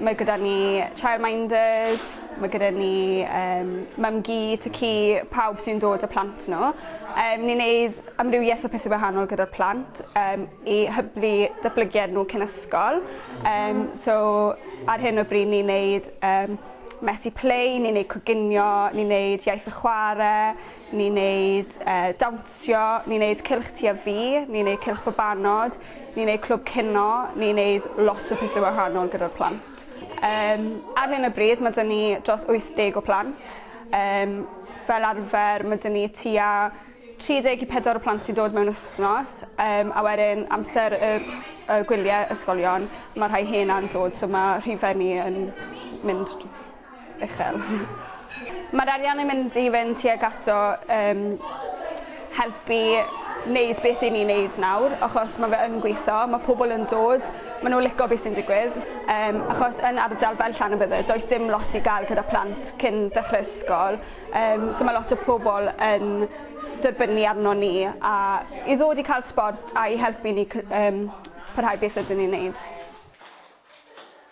Mae gyda ni childminders, mae gyda ni yym mum-gu, tŷ-cu, pawb sy'n dod â plant nhw. Yym ni'n neud amrywiaeth o pethe wahanol gyda'r plant yym i hyblu datblygiad nhw cyn ysgol yym so ar hyn o bryd ni'n neud yym mesi play, ni'n neud coginio, ni'n neud iaith a chware, Ni'n neud dawnsio, ni'n neud cylch tyfu, ni'n neud cylch babanod, ni'n neud clwb cino, ni'n neud lot o pethe wahanol gyda'r plant. Yym ar hyn o bryd ma' 'da ni dros wyth deg o plant yym fel arfer ma' 'da ni tua tri deg i pedwar o plant sy'n dod mewn wthnos yym a wedyn amser y y gwylie ysgolion ma' rhai hena'n dod so ma' rhife ni yn mynd uchel. Mae'r arian yn mynd i fynd tuag ato yym helpu wneud beth i ni'n wneud nawr achos mae fe yn gweithio, mae pobl yn dod, maen nhw'n licio beth sy'n digwydd yym achos yn ardal fel Llanybydder does dim lot i gael gyda plant cyn dechrau ysgol yym so mae lot o pobl yn dibynnu arno ni a i ddod i cael sbort a'i helpu ni cy- yym parhau beth ydyn ni'n wneud.